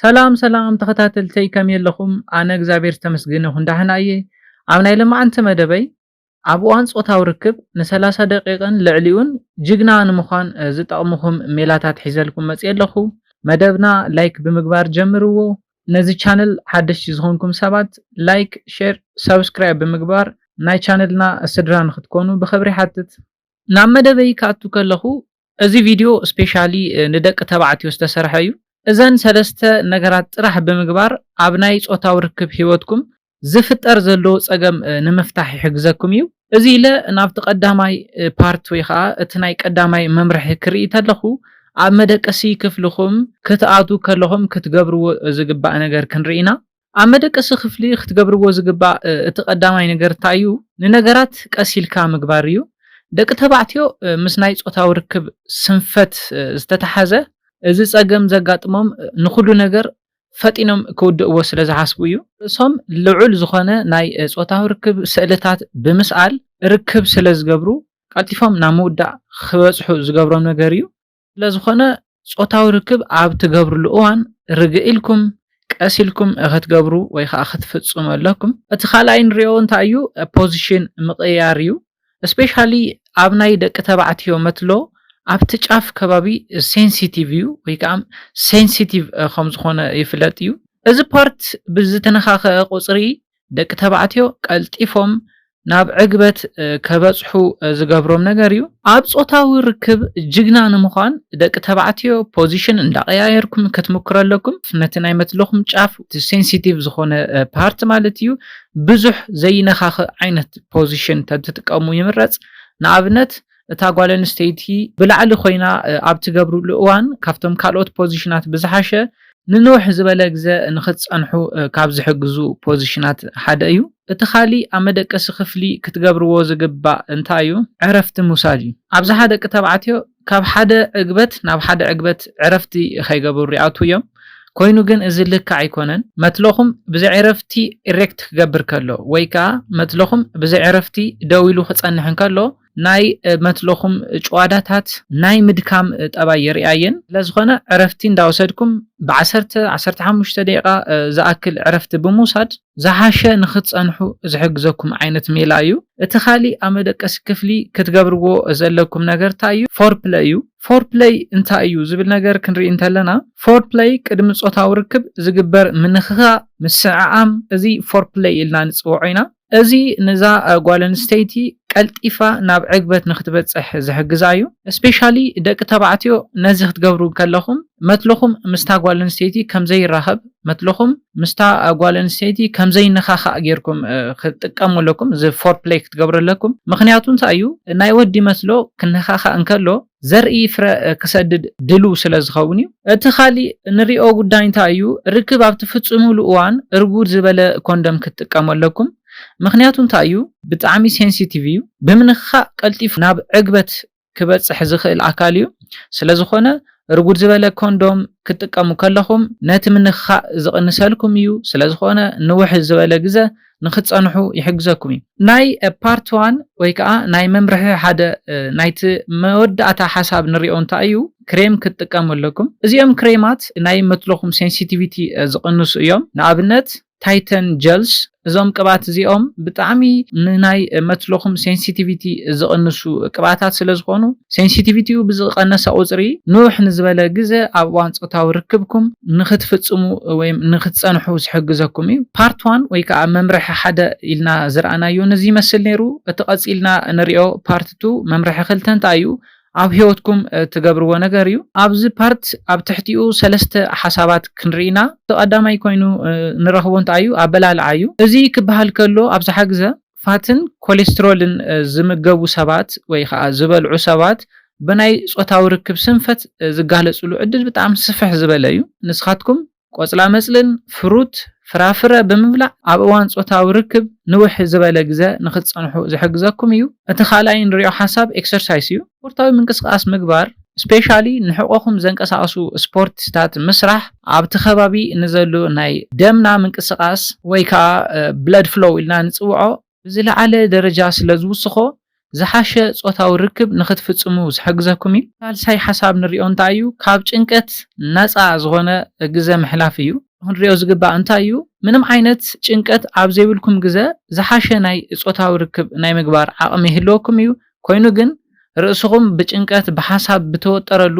ሰላም ሰላም ተኸታተልተይ ከመይ ኣለኹም? ኣነ እግዚኣብሔር ዝተመስገነ ይኹን ዳሕና እየ። ኣብ ናይ ለማዓንቲ መደበይ ኣብ እዋን ጾታዊ ርክብ ንሰላሳ ደቂቕን ልዕሊኡን ጅግና ንምዃን ዝጠቕምኹም ሜላታት ሒዘልኩም መጽየ ኣለኹ። መደብና ላይክ ብምግባር ጀምርዎ። ነዚ ቻነል ሓደሽቲ ዝኾንኩም ሰባት ላይክ፣ ሼር፣ ሳብስክራይብ ብምግባር ናይ ቻነልና ስድራ ንኽትኮኑ ብኽብሪ ይሓትት። ናብ መደበይ ክኣቱ ከለኹ እዚ ቪድዮ ስፔሻሊ ንደቂ ተባዕትዮ ዝተሰርሐ እዩ። እዘን ሰለስተ ነገራት ጥራሕ ብምግባር ኣብ ናይ ጾታዊ ርክብ ሂወትኩም ዝፍጠር ዘሎ ጸገም ንምፍታሕ ይሕግዘኩም እዩ። እዚ ኢለ ናብቲ ቀዳማይ ፓርት ወይ ከኣ እቲ ናይ ቀዳማይ መምርሒ ክርኢ ተለኹ ኣብ መደቀሲ ክፍልኹም ክትኣትዉ ከለኹም ክትገብርዎ ዝግባእ ነገር ክንርኢ ኢና። ኣብ መደቀሲ ክፍሊ ክትገብርዎ ዝግባእ እቲ ቀዳማይ ነገር እንታይ እዩ? ንነገራት ቀስ ኢልካ ምግባር እዩ። ደቂ ተባዕትዮ ምስ ናይ ጾታዊ ርክብ ስንፈት ዝተታሓዘ እዚ ጸገም ዘጋጥሞም ንኹሉ ነገር ፈጢኖም ክውድእዎ ስለ ዝሓስቡ እዩ። ርእሶም ልዑል ዝኾነ ናይ ጾታዊ ርክብ ስእልታት ብምስኣል ርክብ ስለ ዝገብሩ ቀልጢፎም ናብ ምውዳእ ክበጽሑ ዝገብሮም ነገር እዩ። ስለዝኾነ ጾታዊ ርክብ ኣብ ትገብርሉ እዋን ርግእ ኢልኩም ቀስ ኢልኩም እኽትገብሩ ወይ ኸኣ ክትፍጽሙ ኣለኩም። እቲ ካልኣይ ንሪኦ እንታይ እዩ ፖዚሽን ምቕያር እዩ ስፔሻሊ ኣብ ናይ ደቂ ተባዕትዮ መትሎ ኣብቲ ጫፍ ከባቢ ሴንሲቲቭ እዩ ወይ ከዓ ሴንሲቲቭ ከም ዝኾነ ይፍለጥ እዩ። እዚ ፓርት ብዝተነኻኸ ቁጽሪ ደቂ ተባዕትዮ ቀልጢፎም ናብ ዕግበት ከበጽሑ ዝገብሮም ነገር እዩ። ኣብ ጾታዊ ርክብ ጅግና ንምዃን ደቂ ተባዕትዮ ፖዚሽን እንዳቀያየርኩም ክትምክሩ ኣለኩም። ነቲ ናይ መትለኹም ጫፍ እቲ ሴንሲቲቭ ዝኾነ ፓርት ማለት እዩ ብዙሕ ዘይነኻኽእ ዓይነት ፖዚሽን ተትጥቀሙ ይምረጽ። ንኣብነት እታ ጓል ኣንስተይቲ ብላዕሊ ኮይና ኣብ ትገብርሉ እዋን ካብቶም ካልኦት ፖዚሽናት ብዝሓሸ ንንውሕ ዝበለ ግዘ ንክትፀንሑ ካብ ዝሕግዙ ፖዚሽናት ሓደ እዩ። እቲ ካሊእ ኣብ መደቀሲ ክፍሊ ክትገብርዎ ዝግባእ እንታይ እዩ? ዕረፍቲ ምውሳድ እዩ። ኣብዝሓ ደቂ ተባዕትዮ ካብ ሓደ ዕግበት ናብ ሓደ ዕግበት ዕረፍቲ ከይገበሩ ይኣትዉ እዮም። ኮይኑ ግን እዚ ልክዕ ኣይኮነን። መትሎኹም ብዘይ ዕረፍቲ ኢሬክት ክገብር ከሎ ወይ ከዓ መትሎኹም ብዘይ ዕረፍቲ ደው ኢሉ ክፀንሕ እንከሎ ናይ መትለኹም ጭዋዳታት ናይ ምድካም ጠባይ የርእያ እየን። ስለዝኾነ ዕረፍቲ እንዳወሰድኩም ብዓሰርተ፣ ዓሰርተ ሓሙሽተ ደቂቓ ዝኣክል ዕረፍቲ ብምውሳድ ዝሓሸ ንክትጸንሑ ዝሕግዘኩም ዓይነት ሜላ እዩ። እቲ ካሊእ ኣብ መደቀሲ ክፍሊ ክትገብርዎ ዘለኩም ነገር ታይ እዩ? ፎርፕለይ እዩ። ፎርፕለይ እንታይ እዩ ዝብል ነገር ክንርኢ እንተለና ፎርፕለይ ቅድሚ ጾታዊ ርክብ ዝግበር ምንኽኻእ፣ ምስዕዓም፣ እዚ ፎርፕለይ ኢልና ንጽውዖ ኢና። እዚ ንዛ ጓል ኣንስተይቲ ቀልጢፋ ናብ ዕግበት ንክትበጽሕ ዝሕግዛ እዩ። ስፔሻሊ ደቂ ተባዕትዮ ነዚ ክትገብሩ ከለኹም መትልኹም ምስታ ጓል ኣንስተይቲ ከምዘይራኸብ መትልኹም ምስታ ጓል ኣንስተይቲ ከምዘይነኻኻእ ጌርኩም ክትጥቀመለኩም እዚ ፎርፕለይ ክትገብረለኩም ምኽንያቱ እንታይ እዩ ናይ ወዲ መትሎ ክነኻኻእ እንከሎ ዘርኢ ፍረ ክሰድድ ድሉው ስለ ዝኸውን እዩ። እቲ ካሊእ እንሪኦ ጉዳይ እንታይ እዩ፣ ርክብ ኣብ ትፍፅምሉ እዋን እርጉድ ዝበለ ኮንደም ክትጥቀሙ ኣለኩም። ምኽንያቱ እንታይ እዩ፣ ብጣዕሚ ሴንሲቲቭ እዩ፣ ብምንኽኻእ ቀልጢፉ ናብ ዕግበት ክበፅሕ ዝኽእል ኣካል እዩ። ስለ ዝኾነ እርጉድ ዝበለ ኮንዶም ክትጥቀሙ ከለኹም ነቲ ምንኽኻእ ዝቕንሰልኩም እዩ፣ ስለ ዝኾነ ንውሕ ዝበለ ግዘ ንክትጸንሑ ይሕግዘኩም እዩ። ናይ ፓርት ዋን ወይ ከኣ ናይ መምርሒ ሓደ ናይቲ መወዳእታ ሓሳብ ንሪኦ እንታይ እዩ ክሬም ክትጥቀሙ ኣለኩም። እዚኦም ክሬማት ናይ መትሎኹም ሴንሲቲቪቲ ዝቕንሱ እዮም። ንኣብነት ታይተን ጀልስ እዞም ቅብኣት እዚኦም ብጣዕሚ ንናይ መትሎኹም ሴንሲቲቪቲ ዝቕንሱ ቅብኣታት ስለዝኾኑ ሴንሲቲቪቲኡ ብዝቐነሰ ቁጽሪ፣ ንውሕ ንዝበለ ግዘ ኣብ እዋን ጾታዊ ርክብኩም ንኽትፍጽሙ ወይ ንኽትጸንሑ ዝሕግዘኩም እዩ። Part One ወይ ከኣ መምርሒ ሓደ ኢልና ዝረኣናዮ ነዚ ይመስል ነይሩ። እቲ ቀጺልና እንሪኦ Part Two፣ መምርሒ ክልተ፣ እንታይ እዩ ኣብ ህይወትኩም ትገብርዎ ነገር እዩ። ኣብዚ ፓርት ኣብ ትሕቲኡ ሰለስተ ሓሳባት ክንርኢ ኢና። እቲ ቀዳማይ ኮይኑ ንረኽቦ እንታይ እዩ ኣበላልዓ እዩ። እዚ ክበሃል ከሎ ኣብዝሓ ግዘ ፋትን ኮሌስትሮልን ዝምገቡ ሰባት ወይ ኸዓ ዝበልዑ ሰባት ብናይ ፆታዊ ርክብ ስንፈት ዝጋለፅሉ ዕድል ብጣዕሚ ስፍሕ ዝበለ እዩ። ንስኻትኩም ቆፅላመፅልን ፍሩት፣ ፍራፍረ፣ ብምብላዕ ኣብ እዋን ፆታዊ ርክብ ንውሕ ዝበለ ግዘ ንኽትፀንሑ ዝሕግዘኩም እዩ። እቲ ካልኣይ እንሪኦ ሓሳብ ኤክሰርሳይስ እዩ። ስፖርታዊ ምንቅስቃስ ምግባር ስፔሻሊ ንሕቆኹም ዘንቀሳቅሱ ስፖርቲታት ምስራሕ ኣብቲ ከባቢ ንዘሉ ናይ ደምና ምንቅስቃስ ወይ ከዓ ብለድ ፍሎው ኢልና ንፅውዖ ብዝለዓለ ደረጃ ስለ ዝውስኾ ዝሓሸ ፆታዊ ርክብ ንክትፍፅሙ ዝሕግዘኩም እዩ። ሳልሳይ ሓሳብ ንሪኦ እንታይ እዩ ካብ ጭንቀት ነፃ ዝኾነ ግዘ ምሕላፍ እዩ። ክንሪኦ ዝግባእ እንታይ እዩ ምንም ዓይነት ጭንቀት ኣብ ዘይብልኩም ግዘ ዝሓሸ ናይ ፆታዊ ርክብ ናይ ምግባር ዓቅሚ ይህልወኩም እዩ። ኮይኑ ግን ርእስኹም ብጭንቀት ብሓሳብ ብተወጠረሉ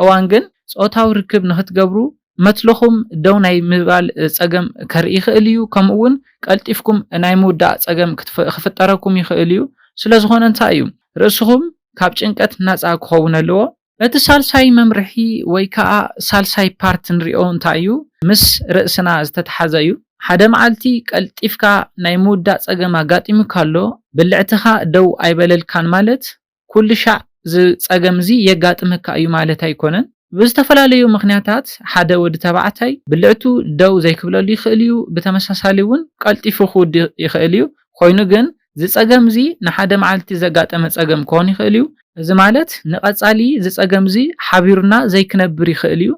እዋን ግን ጾታዊ ርክብ ንኽትገብሩ መትሎኹም ደው ናይ ምባል ጸገም ከርኢ ይኽእል እዩ ከምኡ እውን ቀልጢፍኩም ናይ ምውዳእ ጸገም ክፍጠረኩም ይኽእል እዩ ስለዝኾነ እንታይ እዩ ርእስኹም ካብ ጭንቀት ናጻ ክኸውን ኣለዎ። እቲ ሳልሳይ መምርሒ ወይ ከኣ ሳልሳይ ፓርት ንሪኦ እንታይ እዩ ምስ ርእስና ዝተትሓዘ እዩ ሓደ መዓልቲ ቀልጢፍካ ናይ ምውዳእ ጸገም ኣጋጢሙካ ኣሎ ብልዕትኻ ደው ኣይበለልካን ማለት ኩሉሻዕ እዚ ጸገም እዚ የጋጥመካ እዩ ማለት ኣይኮነን ብዝተፈላለዩ ምኽንያታት ሓደ ወዲ ተባዕታይ ብልዕቱ ደው ዘይክብለሉ ይኽእል እዩ ብተመሳሳሊ እውን ቀልጢፉ ክውድእ ይኽእል እዩ ኮይኑ ግን እዚ ጸገም እዚ ንሓደ መዓልቲ ዘጋጠመ ጸገም ክኾን ይኽእል እዩ። እዚ ማለት ንቐጻሊ እዚ ጸገም እዚ ሓቢሩና ዘይክነብር ይኽእል እዩ።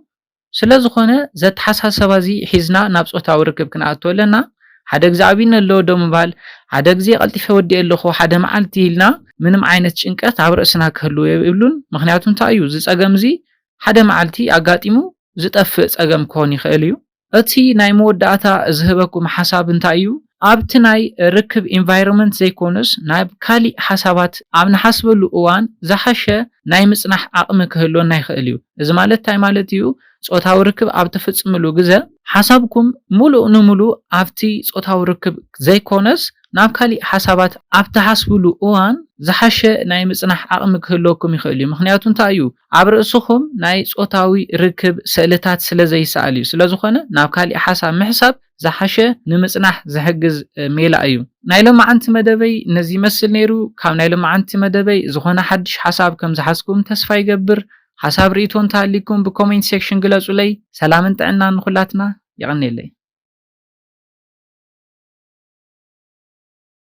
ስለ ዝኾነ እዚ ኣተሓሳሰባ እዚ ሒዝና ናብ ጾታዊ ርክብ ክንኣቱ ኣለና። ሓደ ግዜ ዓብዩኒ ኣሎ ዶ ምባል፣ ሓደ ግዜ ቀልጢፈ ወዲኤ ኣለኹ፣ ሓደ መዓልቲ ኢልና ምንም ዓይነት ጭንቀት ኣብ ርእስና ክህልው የብሉን። ምኽንያቱ እንታይ እዩ እዚ ጸገም እዚ ሓደ መዓልቲ ኣጋጢሙ ዝጠፍእ ጸገም ክኾን ይኽእል እዩ። እቲ ናይ መወዳእታ ዝህበኩም ሓሳብ እንታይ እዩ? ኣብቲ ናይ ርክብ ኢንቫይሮመንት ዘይኮነስ ናብ ካሊእ ሓሳባት ኣብ ንሓስበሉ እዋን ዝሓሸ ናይ ምፅናሕ ዓቕሚ ክህልወና ይኽእል እዩ። እዚ ማለት እንታይ ማለት እዩ? ፆታዊ ርክብ ኣብ ትፍፅምሉ ግዘ፣ ሓሳብኩም ሙሉእ ንሙሉእ ኣብቲ ፆታዊ ርክብ ዘይኮነስ ናብ ካሊእ ሓሳባት ኣብ ትሓስብሉ እዋን ዝሓሸ ናይ ምፅናሕ ዓቕሚ ክህልወኩም ይኽእል እዩ። ምኽንያቱ እንታይ እዩ? ኣብ ርእስኹም ናይ ጾታዊ ርክብ ስእልታት ስለ ዘይስኣል እዩ። ስለ ዝኾነ ናብ ካሊእ ሓሳብ ምሕሳብ ዝሓሸ ንምጽናሕ ዝሕግዝ ሜላ እዩ። ናይ ሎማዓንቲ መደበይ ነዚ ይመስል ነይሩ። ካብ ናይ ሎማዓንቲ መደበይ ዝኾነ ሓድሽ ሓሳብ ከም ዝሓዝኩም ተስፋ ይገብር። ሓሳብ ርኢቶ እንተሃሊኩም ብኮሜንት ሴክሽን ግለጹለይ። ሰላምን ጥዕናን ንኹላትና። የቐኔለይ።